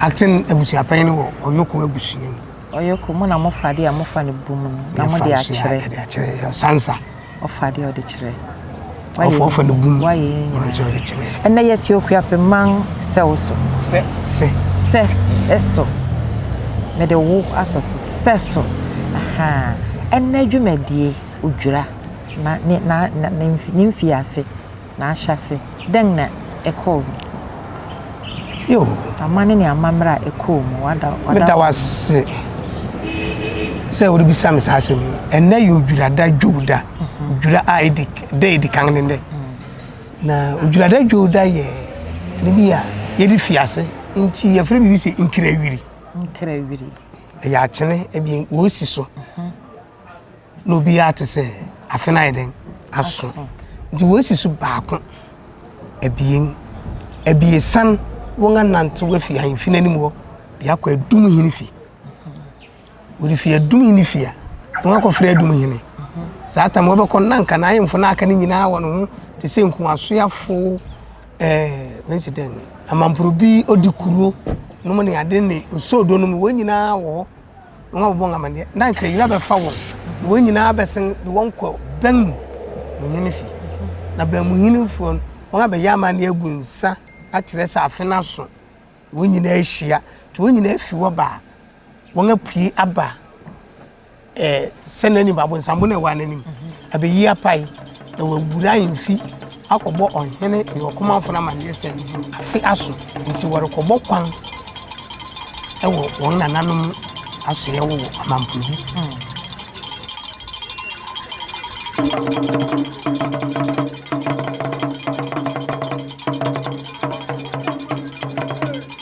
Aten abusuapɛn no wɔ Ɔyoko abusua mu. Ɔyoko, mo na mofa adeɛ a mofa no bu mu no, na mode akyerɛ. Yɛfa nso yɛ adeɛ Sansa. Ɔfa adeɛ a ɔde kyerɛ. Ɔfa ɔfa no bu mu. Wayɛ yɛn nyinaa. Nso ɔde kyerɛ. Ɛnna yɛte Okuape man sɛw so. Sɛ. Sɛ. Sɛ so. Mede wo asɔ so. Sɛ so. Aha. Ɛnna dwumadie odwira na ne na ne mfiase. N'ahyɛase, dɛn na ɛkɔɔ mu? Yoo. Aman ne amammerɛ a ɛkɔɔ mu, wada wo. Meda wo ase sɛ worebisa me saa asɛm yi. Ɛnnɛ yɛ Odwirada Dwowda, mhm. Odwira a ɛdi da ɛdi kan ne nnɛ. Mhm. Na Odwirada Dwowda yɛ ne bi a yɛde fi ase nti yɛfrɛ biribi sɛ nkirawiri. Nkirawiri. Ɛyɛ akyene ɛbi wɔsi so. Mhm. na obiara te sɛ afe no ayɛ dɛn aso nti wɔasi so baako abien abiesa no wɔn anante wafi ahemfi no anim hɔ de akɔ adum hene fi wɔde fi adum hene fi a wɔn akɔfrɛ adum hene saa tam wɔbɛkɔ no na nka na ahemfo no aka no nyinaa wɔ ne ho te sɛ nkuasoafo ɛɛ wɔnsi dɛn amamporobi odi kuro nom ne ade ne osoodo nom wɔn nyinaa wɔ hɔ Na wɔabɔ wɔn amaneɛ, na anka yera bɛfa wɔn, na wɔn nyinaa bɛsen de wɔn kɔ bɛn mu mu hene fi. Na bɛn mu hene foɔ no, wɔn abɛyɛ amaneɛ agu nsa akyerɛ sɛ afe no aso, wɔn nyinaa ahyia, nti wɔn nyinaa fi hɔ baa, wɔn apue aba eh, sɛ n'anim, abonsambo na ɛwɔ n'anim, abɛyi apae, na wɔawura mfi akɔbɔ ɔhene ne ɔkomafo no amanneɛ sɛ afe aso nti wɔrekɔbɔ kwan wɔ wɔn nananom asoɛe wɔ amampo bi.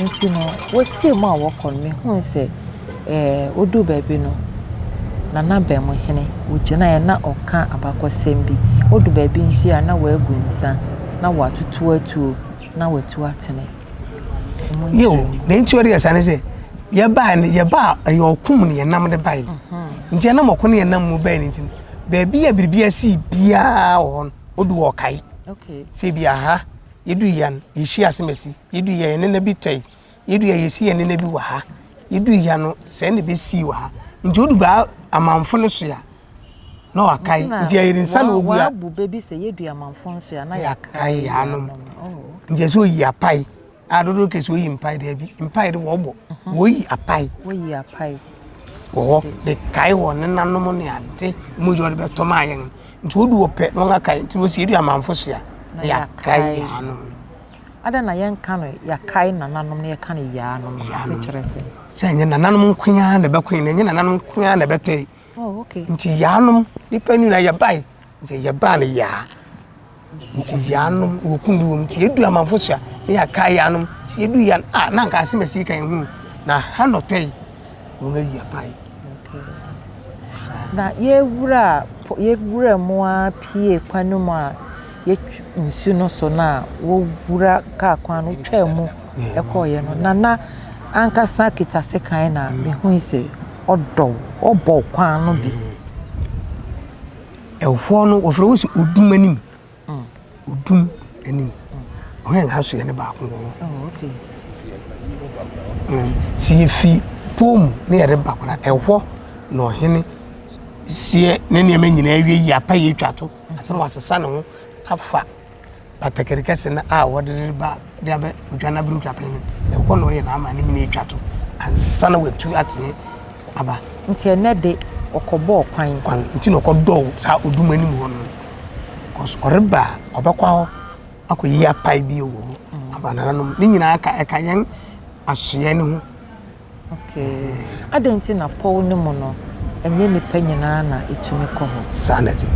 Nti no, wosiee mu a wɔkɔ no, mihui sɛ, ɛɛ, woduu baabi no, na n'abamu hene, ogyinae na ɔreka abakɔsɛm bi. Odu baabi nso a, na wagu nsa, na watoto atuo, na watu atene. Yiw, na enti ɔde yɛ saa ne sɛ, yɛbae no, yɛbaa ɛyɛ ɔko mu na yɛnam de bae. Nti ɛnam ɔko ne yɛnam mu bae no nti no, baabi a biribi asii biara wɔ hɔ no, odu hɔ ɔkae sɛ ebi aha yɛdu yia no yɛhyia asemasi yɛdu yia yɛne na bi tɔe yɛdu yia yɛsi yɛne na bi wɔ ha yɛdu yia no sɛ ne bɛsii wɔ ha nti odu baa amanfo no so a na wakae nti ɛyɛ nsa na ogu a wabu bɛbi sɛ yɛdu amanfo no so a na yɛakae yɛanom oh. nti ɛsɛ oyi apae A dodoɔ kɛse oyi mpae dɛ bi mpae de wɔbɔ mhm. wɔyi apae wɔyi apae wɔ hɔ de kae wɔ ne nanom ne ade mu yɛ ɔde bɛtɔ maa yɛn nti wɔdu wɔ pɛ na wɔn akae nti wɔsi edu amanfo so a yɛakae yɛanom ada na yɛnka no yɛakae nananom na yɛka no yɛanom sɛ kyerɛ sɛ sɛ ɛnyɛ nananom nkoa na ɛbɛkoe na ɛnyɛ nananom nkoa na ɛbɛtɔe Oh, okay. Nti yaanom nipa ni na yɛbae nti yɛbaa no yaa nti yaanom wɔkum bi wɔm nti yɛdu amanfo so a ne yɛaka yaanom nti yɛdu ya a na nka asɛm asi ka ɛhu na ha nɔtɔ yi wɔn ayi apae na yɛwura yɛwura mu a pie kwan no mu a yɛtwi nsu no so no a wɔwura kaa kwan no twaa mu kɔeɛ no Nana ankasa kita sekan na mehui sɛ ɔdɔ wo, ɔbɔ wo kwan no bi. Ɛhɔ no wɔfrɛ wo sɛ odum anim, odum anim, ɔhɛn mm. asoɛ no baako wɔ hɔ. Oh, mm. Sɛ yɛfi pɔn mu na yɛde ba kora ɛhɔ na ɔhene seɛ ne nneɛma nyinaa awie yi apa yɛ atwa to asɛ wɔasesa ne ho afa Batakari kɛse no a wɔde no ba de aba odwa no aberɛwtwapɛn no, ɛhɔ na ɔyɛ n'amane nyina atwa to ansa na watu ateɛ aba. Nti ɛnɛ de, ɔkɔbɔɔ kwan. Kwan, nti na ɔkɔdɔɔ saa odum anim hɔ no. Cos ɔreba a, ɔbɛkɔ hɔ akɔyi apae bio wɔ hɔ ama nananom. Ne nyinaa ka, ɛka yɛn asoɛe no ho. Okay. Adɛn nti na pɔw no mu no, ɛnyɛ nnipa nyinaa na etumi kɔ hɔ? Saa na ɛte.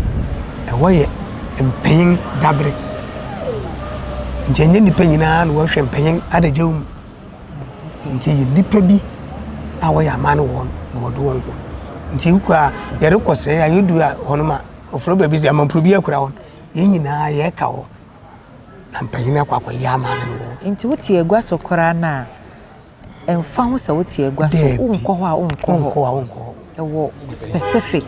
Ɛhɔ yɛ mpanyin dabere, nti ɛnyɛ nnipa nyinaa na wɔhwɛ mpanyin adagyaw mu. Nti ɛyɛ nnipa bi a wɔyɛ amanne wɔn na wɔde wɔn kɔ. Nti wokɔ a yɛrekɔ sɛɛ a yɛdu a hɔnom a ɔfrɛ baabi sɛ amampuro bi akura wɔn. Yɛn nyinaa yɛka hɔ na mpanyin akɔ akɔyɛ amanne no wɔ hɔ. Nti wote agua so koraa no a, Ɛmfa ho sɛ wote agua so, Daabi, wonkɔ hɔ a wonkɔ hɔ. wonkɔ a wonkɔ hɔ. Ɛwɔ specific.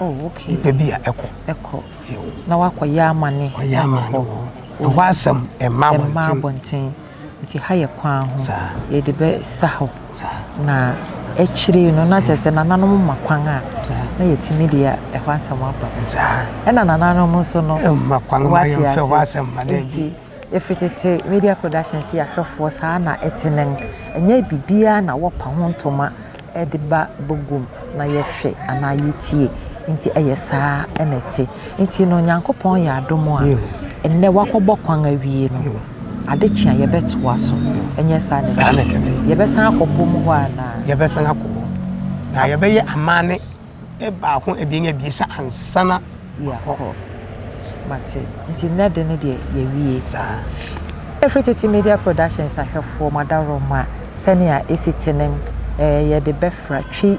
Oh, okay. Nipa bi a ɛkɔ. Ɛkɔ. Yo. Na wakɔyɛ amane. Ɔyɛ amane wɔ hɔ. Ɛhɔ asɛm ɛmma abɔnten. Ɛmma abɔnten. Nti ha yɛ kwan ho. Saa. Yɛde bɛsa hɔ. Saa. Na akyire yi no na kyerɛ sɛ nananom ma kwan a. Saa. Na yɛtumi de ɛhɔ asɛm aba. Saa. Ɛna nananom nso no. Ɛmma kwan ma yɛmfa ɛhɔ asɛm ma daabi. Ɛfiri tete Media Productions yɛ ahwɛfoɔ saa na ɛte nnɛ. Ɛnyɛ biribiara na wɔpa ho ntoma de ba baguam na yɛhwɛ anaa yɛtie. Nti ɛyɛ saa na ɛte. Nti no Nyankopɔn yɛ adom a nnɛ wakɔbɔ kwan awie no, ade kye a yɛbɛtoa so. Ɛnyɛ saa na ɛte? Saa na ɛte. Yɛbɛsan akɔ bom hɔ anaa? Yɛbɛsan akɔ hɔ. Na yɛbɛyɛ amanne. baako, abien, abiɛsa ansa na wakɔ. Yɛakɔ. Mate. Nti nnɛ de no deɛ, yɛawie. Saa. Ɛfiri Tete Media Productions ahwɛfoɔ, mo adaworoma, sɛnea ɛsi te no, eh, yɛde bɛfra Twi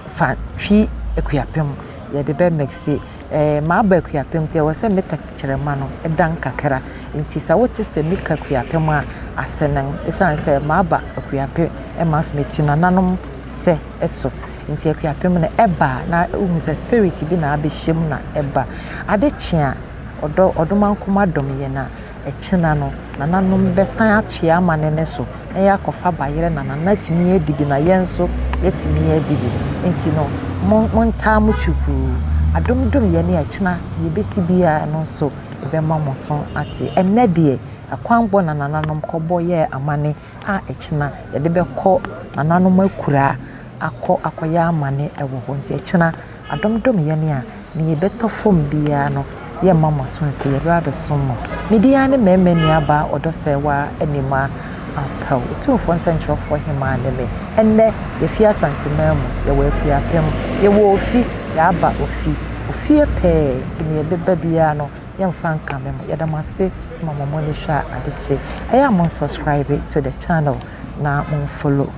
fa Twi Akuapem, yɛde bɛ mixe. Eh, maba Akuapem nti ɛwɔ sɛ me tɛkyerɛma no dan kakra. Nti sɛ wote sɛ me ka Akuapem a, ase no, ɛsiane sɛ maba Akuapem ma nso meti nananom sɛ. so. Nti akuapem no ɛba a na wohu sɛ spirit bi na abɛhyɛ mu na ɛba. Ade kye a ɔdɔ ɔdomankoma dom yɛn a ɛkyena no nananom bɛsan atoa amane no so na yɛakɔfa bayerɛ na nana atumi adi bi na yɛn nso yɛatumi adi bi. Nti no mo montaa mo kyukuu. Adom dom yɛn a ɛkyena deɛ ɛbɛsi biara no nso yɛbɛma mo aso ate. Ɛnnɛ deɛ akwanbɔ na nananom kɔbɔ yɛɛ amane a ɛkyena yɛde bɛkɔ nananom akura akɔ akɔyɛ amane wɔ hɔ nti ɛkyena adom dom yɛn a nea ɛbɛtɔ fam biara no yɛmma mo aso nse yɛbɛba abɛsom mo me din ara ne mmarima nuabaa Ɔdɔsɛewaa Anima Ampaw Otumfoɔ Nsɛnkyerɛwfoɔ Hemaa ne me ɛnnɛ yɛfi Asantemaa mu yɛwɔ Akuapem yɛwɔ ofi yɛaba ofi ofie pɛɛ nti nea ɛbɛba biara no yɛnfa nka me mo yɛda mo ase ma mo mo ani hwɛ adekye ɛyɛ a mo subscribe to the channel na mo follow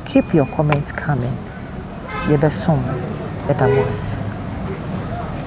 keep your comment coming yɛbɛsom mo yɛda mo ase.